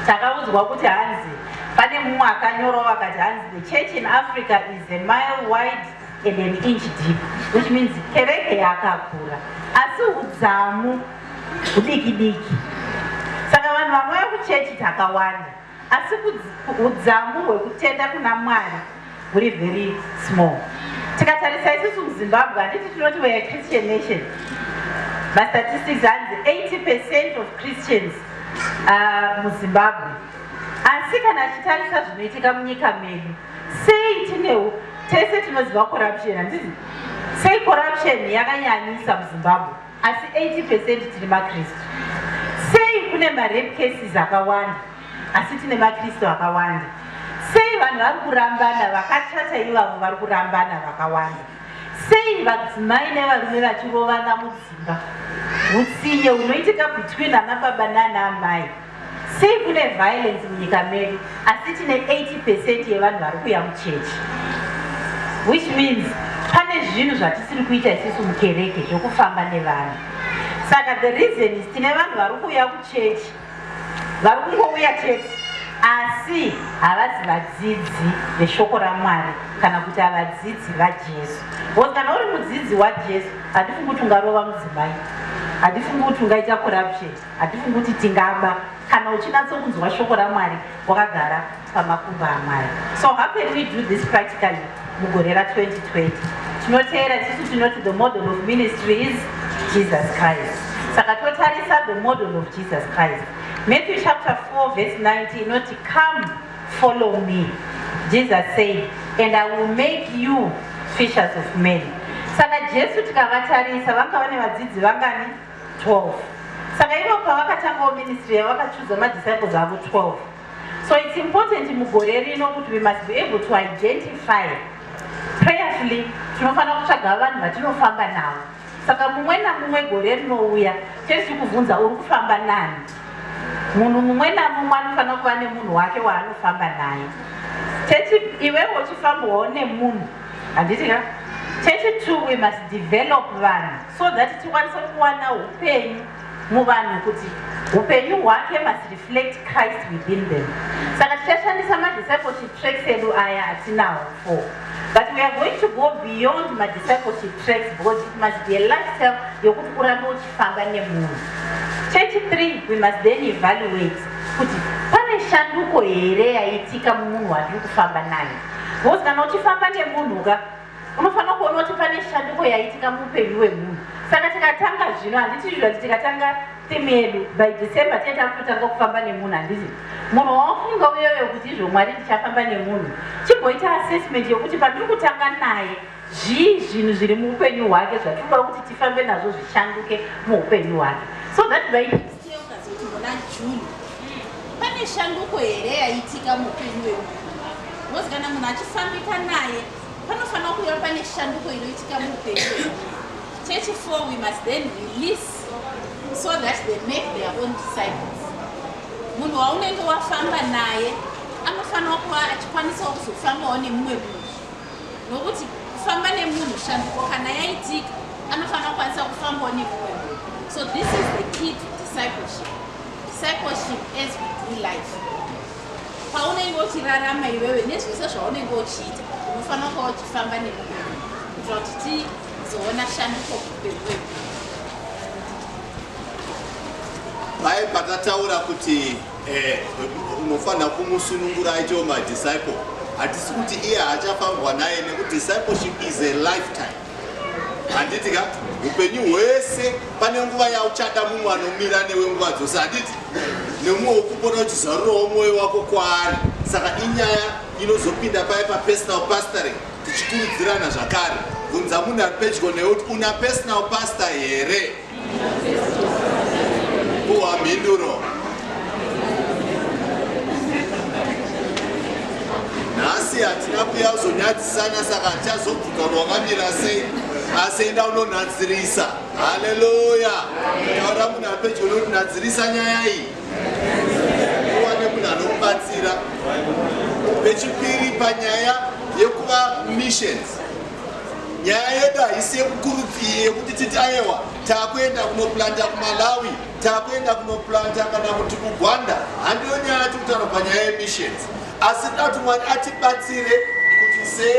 takaudzwa kuti hanzi pane mumwe akanyorawo akati hanzi the church in africa is a mile wide and an inch deep which means kereke yakakura asi udzamu hudiki diki saka vanhu vanouya kuchechi takawanda Asi hudzamu hwekutenda kuna Mwari huri very small. Tikatarisa isusu muZimbabwe handiti tinoti we are Christian nation. Mastatistics hanzi 80% of Christians uh, muZimbabwe. Asi kana achitarisa zvinoitika munyika medu sei tinewo tese tinoziva corruption handizi sei corruption yakanyanyisa muzimbabwe asi 80 percent tiri makristu sei kune marape cases akawanda asi tine makristu akawanda sei vanhu vari kurambana vakachata ivavo vari kurambana vakawanda sei vadzimai nevarume vachirovana mudzimba utsinye hunoitika between ana baba nana amai Sei kune violence munyika medu asi tine 80 percent yevanhu vari kuya muchechi which means pane zvinhu zvatisiri kuita isisu mukereke zvekufamba nevanhu saka the reason is tine vanhu vari kuuya kuchechi vari kungouya chete asi havazi vadzidzi veshoko ramwari kana kuti havadzidzi vajesu bcause kana uri mudzidzi wajesu handifungi kuti ungarova mudzimai handifungi kuti ungaita corruption Hatifungi kuti tingaba kana uchinatsokunzwa shoko raMwari wakagara pamakumbo aMwari. So how can we do this practically mugore ra 2020? Tinoteera tisu tinoti the model of ministry is Jesus Christ. Saka totarisa the model of Jesus Christ. Matthew chapter 4 verse 19 inoti come follow me. Jesus said and I will make you fishers of men. Saka Jesu tikavatarisa vanga vane vadzidzi vangani? 12 saka ivo pavakatangawo ministry yavo vakachuza madisciples avo 12 so it's important mugore rino kuti we must be able to identify prayerfully tinofanira kutsvaga vanhu vatinofamba navo saka mumwe namumwe gore rinouya chete tikubvunza uri kufamba nani munhu mumwe namumwe anofanira kuva nemunhu wake waanofamba naye chete iwewo uchifambawo nemunhu handiti ka chete two we must develop vanhu so that tikwanise kuwana upenyu muvanhu kuti upenyu hwake must reflect christ within them saka tichashandisa madiscipleship tracks edu aya atinawo fo but we are going to go beyond madiscipleship tracks because it must be a lifestyle yokuti urambe uchifamba nemunhu chechi three we must then evaluate kuti pane shanduko here yaitika mumunhu watiri kufamba naye because kana uchifamba nemunhu ka unofanira kuona kuti pane shanduko yaitika muupenyu hwemunhu saka tikatanga zvino handiti zviva kuti tikatanga timu yedu by december tee takutotanga kufamba nemunhu handiti munhu wawafunga uyoyo kuti izvo mwari ndichafamba nemunhu chimboita assessment yokuti pandiri kutanga naye zvii zvinhu zviri muupenyu hwake zvatiri kuda kuti tifambe nazvo zvishanduke muupenyu hwake so that by muna june pane shanduko here yaitika muupenyu wemunhu mozikana munhu achifambika naye Panofanira kuva pane shanduko inoitika muupenyu chechi for we must then release so that they make their own disciples. Munhu waunenge wafamba naye anofanira kuva achikwanisawo kuzofambawo nemumwe munhu nokuti kufamba nemunhu shanduko kana yaitika anofanira kukwanisa kufambawo nemumwe munhu so this is the key to discipleship discipleship as we do life Paunenge uchirarama iwewe nezvese zvaunenge uchiita unofanira kuva uchifamba nemunhu kuitira kuti tizoona shanduko kuupenyu wedu. Paye pakataura kuti eh, unofanira kumusunungura aitewo madisciple hatisi kuti iye haachafambwa naye nekuti discipleship is a lifetime handiti ka upenyu hwese pane nguva yauchada mumwe anomira newe nguva dzose handiti nemumwe wokupona uchizarurawo mwoyo wako kwaari saka inyaya inozopinda paye papersonal pastoring tichikurudzirana zvakare bvunza munhu ari pedyo newe kuti una personal pastor here Puwa mhinduro. Nhasi hatina kuya kuzonyadzisana saka tichazobvuka wakamira sei asi enda unonadzirisa. Haleluya. Taura munhu apedyo unonadzirisa nyaya iyi. Uwane munhu anokubatsira. Pechipiri panyaya yekuva missions. nyaya yedu haisi yekukurudzii yekuti titi ayewa takuenda kunoplanta kumalawi takuenda kunoplanta kana kuti kugwanda handiyo nyaya yati kutaura panyaya yemissions asi toda kuti mwari atibatsire kuti se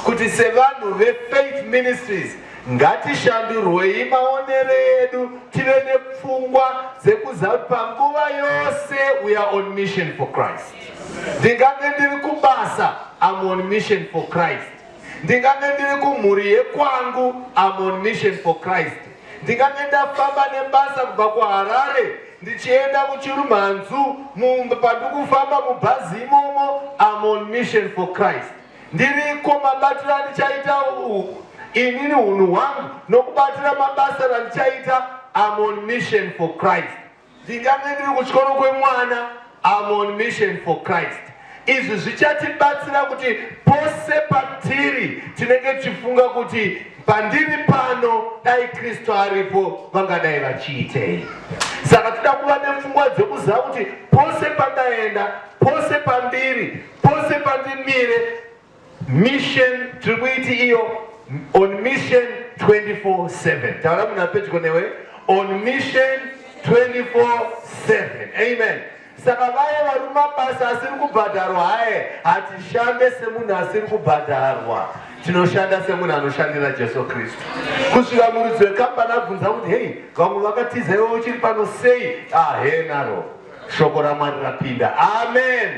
kuti sevanhu vefaith ministries ngatishandurwei maonero edu tive nepfungwa dzekuziva kuti panguva yose we are on mission for christ ndingange ndiri kubasa am on mission for christ ndingange ndiri kumhuri yekwangu am on mission for christ ndingange ndafamba nebasa kubva kuharare ndichienda kuchirumhanzu mumba pandikufamba mubhazi imomo am on mission for christ ndiriko mabatiro andichaita inini unhu hwangu nokubatira mabasa randichaita am on mission for christ Dziga medu kuchikoro kwemwana I'm on mission for Christ. Izvi zvichatibatsira kuti pose patiri tinenge tichifunga kuti pandiri pano dai Kristu aripo vangadai vachiitei. Saka tida kuva nepfungwa dzekuziva kuti pose pandaenda, pose pandiri, pose pandimire Mission tiri kuiti iyo on mission 24/7 taura munhu apedyo newe on mission 24/7 amen saka vaye vari mumabasa asiri kubhadharwa haye hatishande semunhu asiri kubhadharwa tinoshanda semunhu anoshandira jesu kristu kusvika muridzi wekambani abvunza kuti hei vamwe vakatiza iwe uchiri pano sei ahenaro ah, shoko ramwari rapinda amen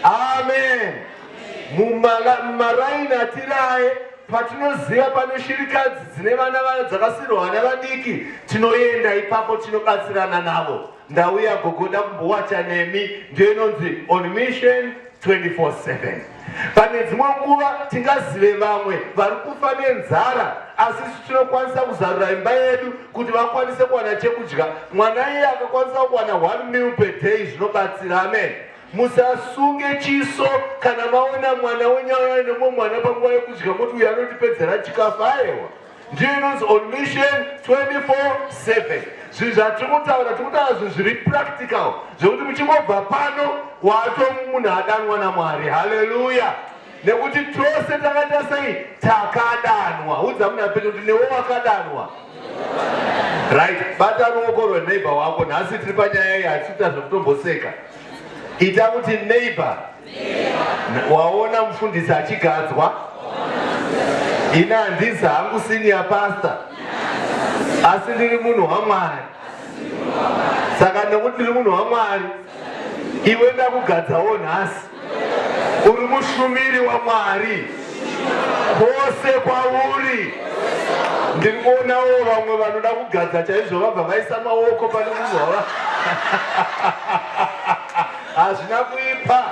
amen, amen. mumaraini atiraye patinoziva pane shirikadzi dzine vana vana dzakasirwa vana vadiki tinoenda ipapo tinobatsirana navo ndauya gogoda kumbowacha nemi ndiyo inonzi on mission 24/7 pane dzimwe nguva tingazive vamwe vari kufa nenzara asi isu tinokwanisa kuzarura imba yedu kuti vakwanise kuwana chekudya mwana iye akakwanisa kuwana one mil per day zvinobatsira amen Musasunge chiso kana maona mwana wenyaya nemwe mwana panguva yekudya moti uyu anotipedzera chikafu aewa ndiyo inonzi on mission 24/7 zvinhu zvatiri kutaura tiri kutaura zvinhu zviri practical zvekuti muchingobva pano wato munhu adanwa namwari haleluya nekuti tose takaita sei takadanwa udza muna pedu kuti newe wakadanwa right bata ruoko rweneighbor wako nhasi tiri panyaya iyi hatisiita zvekutomboseka ita kuti neighbor waona mufundisi achigadzwa ini handizi hangu senior pastor asi ndiri munhu wamwari saka nekuti ndiri munhu wamwari iwe ndakugadzawo nhasi uri mushumiri waMwari kwose kwauri. Ndiri kuonawo vamwe vanoda kugadza chaizvo vabva vaisa maoko pane munhu wava hazvina kuipa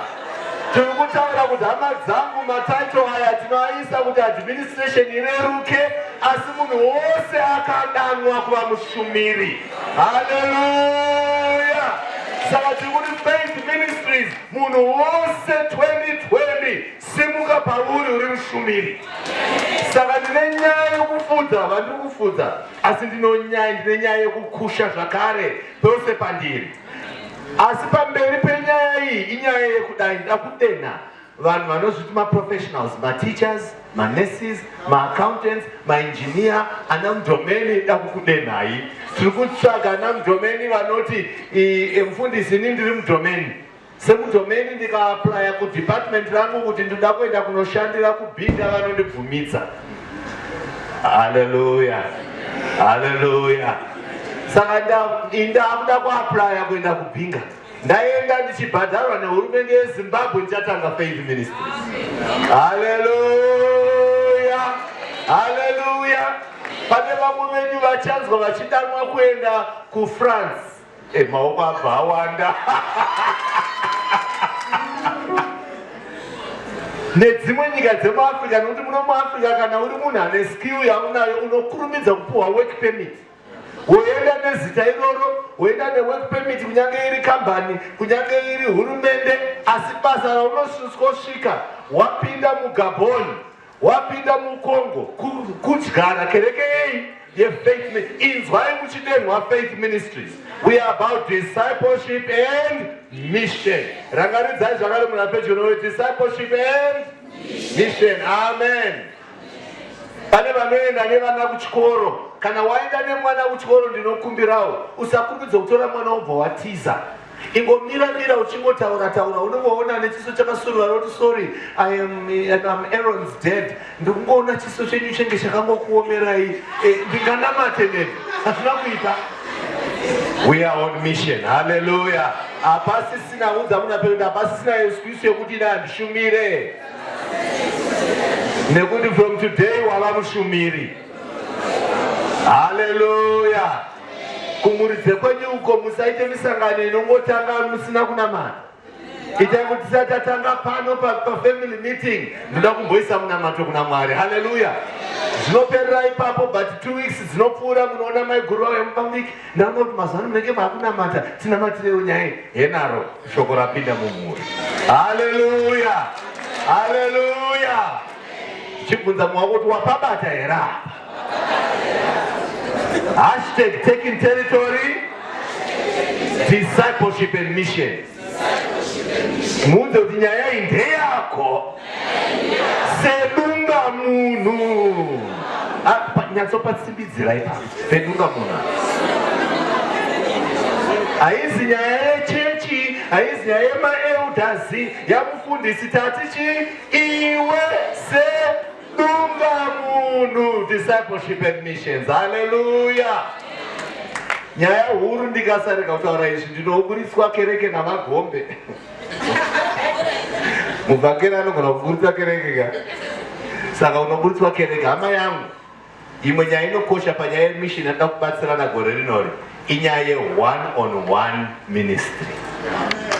tiri kutaura kuti hama dzangu mataito aya tinoaisa kuti administration ireruke asi munhu wose akadanwa kuva mushumiri haleluya saka tiri kuti faith ministries Munhu wose 2020 simuka pauri uri mushumiri. Saka ndine nyaya yokufudza vandiri kufudza, asi ndinonyaya ndine nyaya yokukusha zvakare pose pandiri. Asi pamberi penyaya iyi inyaya yekudai ndakudenha vanhu vanozviti maprofessionals, mateachers, ma nurses, ma accountants, ma engineer, ana mdomeni dakukudenhai. Tiri kutsvaga ana mdomeni vanoti e, mfundisi ini ndiri mdomeni. Semdomeni ndikaaplaya kudepartment rangu kuti ndoda kuenda kunoshandira kubhinda vanondibvumidza. Haleluya. Haleluya. Saka ndakuda kuaplaya kuenda kubhinga. ndaenda ndichibhadharwa nehurumende yezimbabwe ndichatanga faith ministry haleluya haleluya pane vamwe venyu vachanzwa vachidanwa kuenda kufrance e eh, maoko abva awanda nedzimwe nyika dzemuafrica nekuti muno muafrica kana uri munhu ane skill yaunayo unokurumidza kupuhwa work permit woenda nezita iroro woenda nework permit kunyange iri kambani kunyange iri hurumende asi basa raunosvika wapinda mugaboni wapinda mukongo kudyara kereke yei yefaith inzwai muchidenhwa faith ministries we are about discipleship and mission rangaridzai zvakare munhu apedyo nowe discipleship and mission amen pane vanoenda nevana kuchikoro kana waenda nemwana kuchikoro ndinokumbirawo usakumbidza kutora mwana wobva watiza ingomira mira uchingotaura taura unongoona nechiso chakasuruvara kuti sorry iam am arons dead ndikungoona chiso chenyu chenge chakangokuomerai eh, ndinganamate neni hazvina kuita we are on mission halleluya hapasisina unza munhu apekuti hapasisina excuse yekuti ine handishumire nekuti from today wava mushumiri haleluya kumuridze kwenyu uko musaite misangano inongotanga musina kunamata itai kuti tisati tatanga pano pafamily meeting ndinoda kumboisa munamato kuna mwari haleluya zvinoperera ipapo but two weeks dzinopfuura munoona maiguru vavo yamupambiki ndanoti mazuva ano munenge maakunamata tinamatirewo nyaya henaro Shoko rapinda mumhuri. Haleluya. Haleluya. Chibvunza mwa kuti wapabata here apa? Hashtag taking territory, discipleship and mission. Muunze kuti nyaya iyi ndeyako. sedunga munhu nyatsopasimbidzirai pa sedunga munhu haizi nyaya yechechi haizi nyaya yemaeudhazi yamufundisi tati chi iwe sedunga munhu discipleship admissions haleluya nyaya huru ndikasarega kutaura izvi ndinoburitswa kereke namagombe mubvakera anogona kuburitsa kereke ka saka unoburitswa kereke hama yangu imwe nyaya inokosha panyaya yemishini anoda kubatsirana gore rinori inyaya yeone on one ministry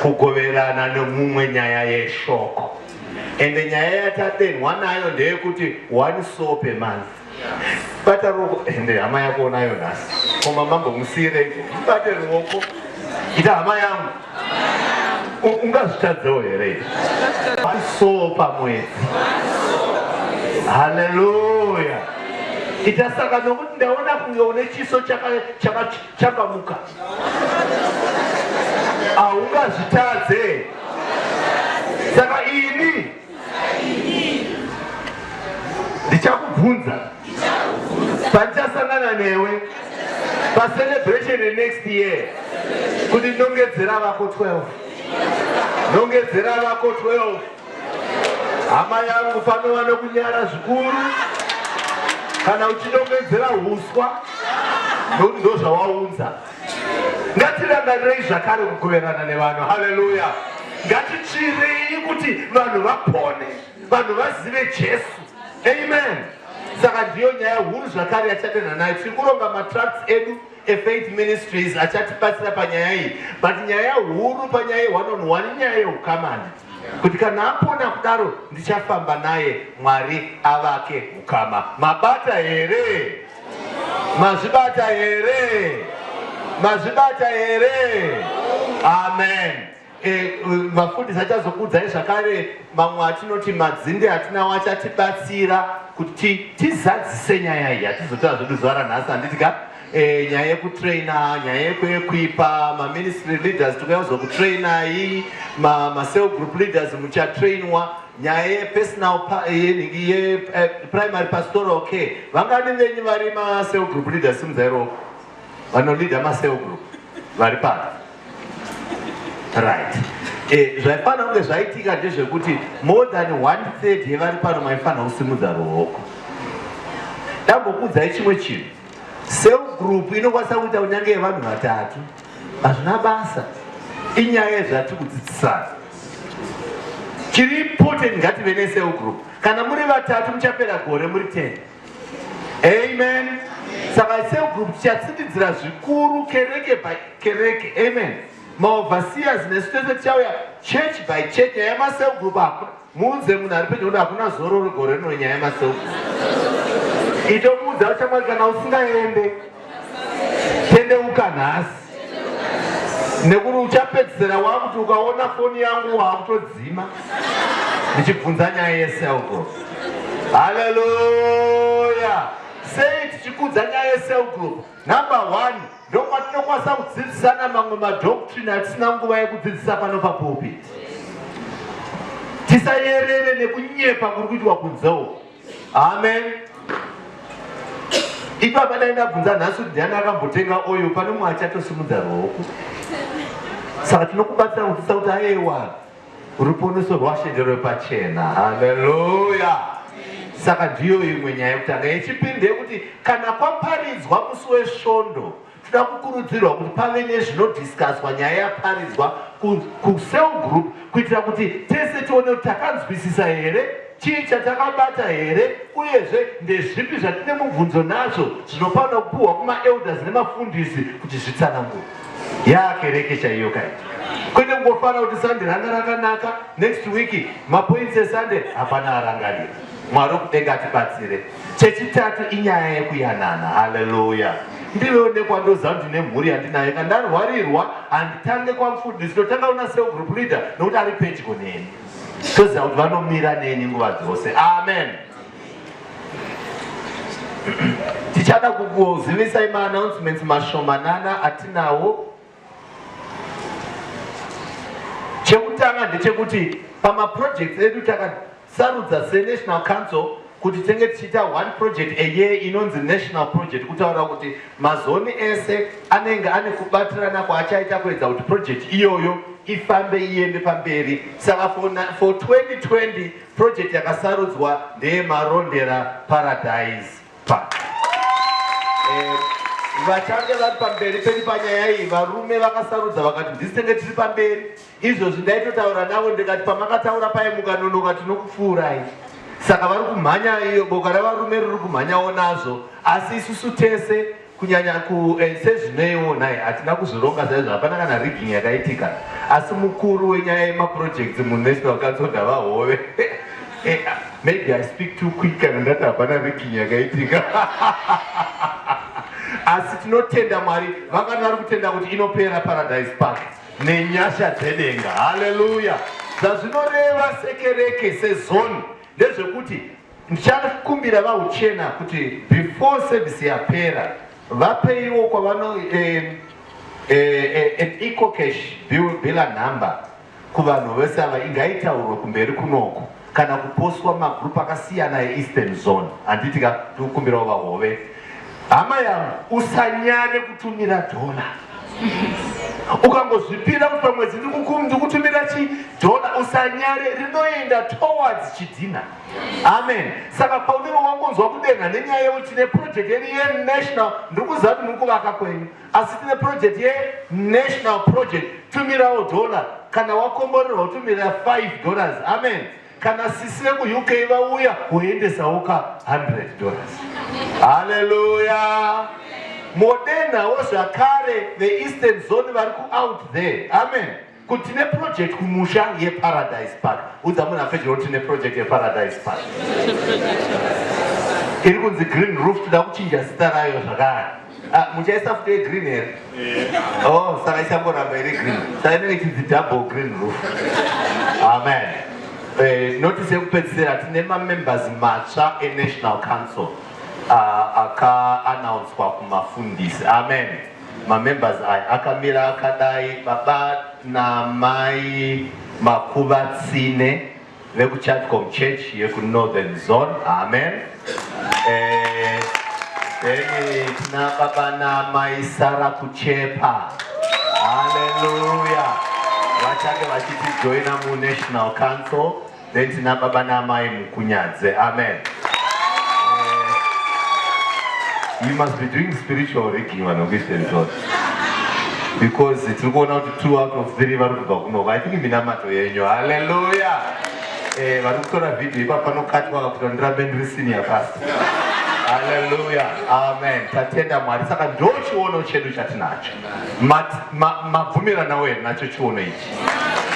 kugoverana nemumwe nyaya yeshoko ende nyaya yatadenhwa nayo ndeyekuti one soul per month bata ruoko ende hama yako unayo nhasi koma mambo musiireiko mubate ruoko ita hama yangu ungazvitadzewo here so pamwedzi haleluya ita saka nokuti ndaona kunge une chiso chakamuka haungazvitadze saka ini ndichakubvunza pandichasangana newe pacelebration yenext year kuti ndongedzera vako 12 ndongedzera vako 12 hama yangu panova nokunyara zvikuru kana uchidongedzera uswa ndozvawaunza ngatirangarirei zvakare kugoverana nevanhu haleluya ngatityirei kuti vanhu vapone vanhu vazive jesu amen saka ndiyo nyaya huru zvakare yachadenha nayo tiri kuronga matracts edu efaith ministries achatibatsira panyaya iyi but nyaya huru panyaya one on one inyaya yeukamani kuti kana apona kudaro ndichafamba naye mwari avake ukama mabata here Mazvibata here? Mazvibata here? Amen. E, e, vafundisi achazokuudzai zvakare mamwe atinoti madzinde atinawo achatibatsira kuti tizadzise nyaya iyi hatizotaura zvedu zuva ranhasi handiti ka e, nyaya yekutraina nyaya yekuekwipa maministry leaders tikuyaudzwa kutrainai macell group leaders muchatrainwa nyaya yepersonal yeprimary eh, pastoral care vangani venyu vari macell group leader simzairo vanoleader macell group vari pano right eh, zvaifanira kunge zvaitika ndezvekuti more than one third yevari pano maifanira kusimudza ruoko ndambokuudzai chimwe chinhu cell group inokwanisa kuita kunyange yevanhu vatatu Hazvina basa, inyaya yezvatiri kudzidzisana. Chiri important ngative necell group. Kana muri vatatu muchapera gore muri 10. Amen. Saka cell group tichatsitidzira zvikuru kereke by kereke. Amen. Maoverseers nesu tese tichauya church by church. Nyaya yemacell group hakuna. Muudze munhu ari pedyo kuti hakuna zororo gore rino nyaya yemasoko. Itomuudza uchamwari kana usingaende tendeuka nhasi nekuti uchapedzisira wakuti ukaona foni yangu waakutodzima ndichibvunza nyaya yeselgroup haleluya sei tichikudza nyaya yeselgroup number one Ndokwatinokwanisa kudzidzisana mamwe madoctrine atisina nguva yekudzidzisa pano papulpiti. Tisayerere nekunyepa kuri kuitwa kunzewo. Amen. Ipapa dai ndabvunza nhasi kuti ndiani akambotenga oyo pane mumwe achatosimudza ruoko. Saka tinokubatsira kudzidzisa kuti ayewa. Ruponeso rwaShe nderwepachena. Haleluya! Saka ndiyo imwe nyaya yekutanga. Yechipiri ndeyekuti kana kwaparidzwa musi weSvondo, tinoda kukurudzirwa kuti pave nezvinodhiskaswa nyaya yaparidzwa kucell group kuitira kuti tese tione kuti takanzwisisa here, chii chatakabata here, uyezve ndezvipi zvatine mubvunzo nazvo zvinofanira kupiwa kumaelders nemafundisi kuti zvitsanangure. yaa kereke chaiyo kai kwete kungofara kuti sande ranga rakanaka next week mapoints esande hapana arangarira mwari wekudenga atibatsire chechitatu inyaya yekuyanana haleluya ndivewo nekwandoziva kuti ndine mhuri yandinayo ka ndarwarirwa handitange kwamfundisi ndotanga kuna sel group leader nokuti ari pedyo neni toziva kuti vanomira neni nguva dzose amen tichada kukuzivisai maannouncements mashomanana atinawo chekutanga ndechekuti pamaprojects edu takasarudza senational council kuti tenge tichiita one project eye inonzi national project kutaura kuti mazoni ese anenge ane kubatirana kwaachaita kuedza kuti project iyoyo ifambe iende pamberi saka for 2020 Project yakasarudzwa ndeye Marondera Paradise Park. Eh, vachange vari pamberi pedu panyaya iyi varume vakasarudza vakati ndisi tenge tiri pamberi izvozvi ndaitotaura navo ndikati pamakataura paye mukanonoka tinokupfuurai saka vari kumhanya iyo boka revarume riri kumhanyawo nazvo asi isusu tese Kunyanya ku eh, sezvineiwo nhai hatina kuzvironga saizvo hapana kana rigging yakaitika asi mukuru wenyaya yemaprojects munational council ndavahove eh, ah, maybe i speak too quick kana ndati hapana rigging yakaitika asi tinotenda mwari vangani vari kutenda kuti inopera paradise park nenyasha dzedenga haleluya zvazvinoreva sekereke sezoni ndezvekuti Ndichakumbira vahuchena kuti before service yapera vapeiwo kwavano eh, eh, eh, an eco cash bill bila number kuvanhu vese ava ingaitaurwa kumberi kunoko kana kuposwa magroup akasiyana eeastern zone handiti ka tikukumbirawo vahove hama yangu usanyanye kutumira dhola ukangozvipira kuti pamwedzi ndikutumira chidhola usanyare rinoenda towards chidhina amen saka paunenge wangonzwa kudenha nenyaya yekuti tine project yedu yenational ndiri kuziva kuti muri kuvaka kwenyu asi tine project yenational project tumirawo dollar kana wakomborerwa utumirira 5 dollars amen kana sisi vekuuk vauya woendesawo ka 100 dollars haleluya modenhawo zvakare veeastern zone vari kuout there amen Kuti tine project kumusha yeParadise Park. Udza munhu apedyo kuti tine project yeParadise Park. Iri kunzi Green Roof toda kuchinja zita rayo zvakare. Ah, muchaisa futi yegreen here? Eh. Oh, saka isangoramba iri green. Saka inenge chinzi double green roof. Amen. Eh, notice yekupedzisira tine mamembers matsva eNational Council ah, akaanaunswa kumafundisi. Amen. Ma members aya akamira akadai baba namai Makuvatsine veku Chatcom Church yeku Northern Zone. Amen. Eh, then tina baba namai Sara Kuchepa. Hallelujah. Vachange vachitijoina mu National Council. Then tina baba naamai Mukunyadze. Amen. You must be doing spiritual rigging vanokuita izvozvo because tiri kuona kuti two out of three vari kubva kunova i think minamato yenyu halleluya eh, vari kutora vhidhiyo ipa panokatwa kakuti ndirambe ndiri senior past halleluya amen tatenda mwari saka ndo chiono chedu chatinacho mabvumiranawo here nacho chiono ichi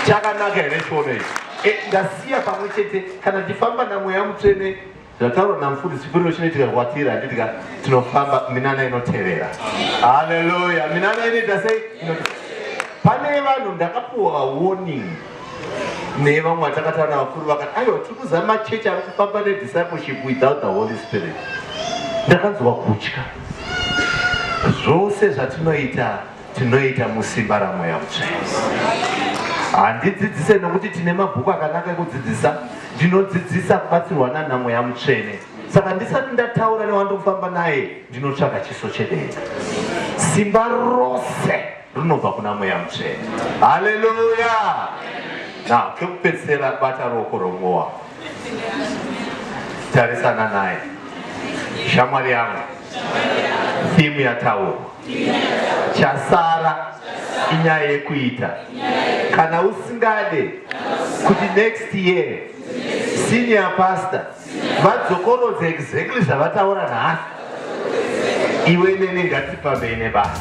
chakanaka here chiono ichi Eh, ndasiya pamwe chete kana tifamba namweya mutsvene zvataurwa namufundisi chipiriro chinoitika kwatiri handiti ka tinofamba minana inotevera haleluya minana inoita sei pane vanhu ndakapuwa warning nevamwe vatakatava navakuru vakati aiwa tiri kuzama machechi ari kufamba nediscipleship without the holy spirit ndakanzwa kutya zvose zvatinoita tinoita musimba ramweya mutsvene handidzidzise nokuti tine mabhuku akanaka ekudzidzisa ndinodzidzisa kubatsirwa nana mweya mutsvene saka ndisati ndataura newandofamba naye ndinotsvaga chiso chedenga simba rose rinobva kuna mweya mutsvene haleluya na kekupedzisira bata ruoko rwomumwe wako tarisana naye shamwari yangu thimu yataurwa chasara inyaya yekuita kana usingade kuti next year senior pastor vadzokorodza exactly zvavataura nhasi iwe nene ngatipambei nebasa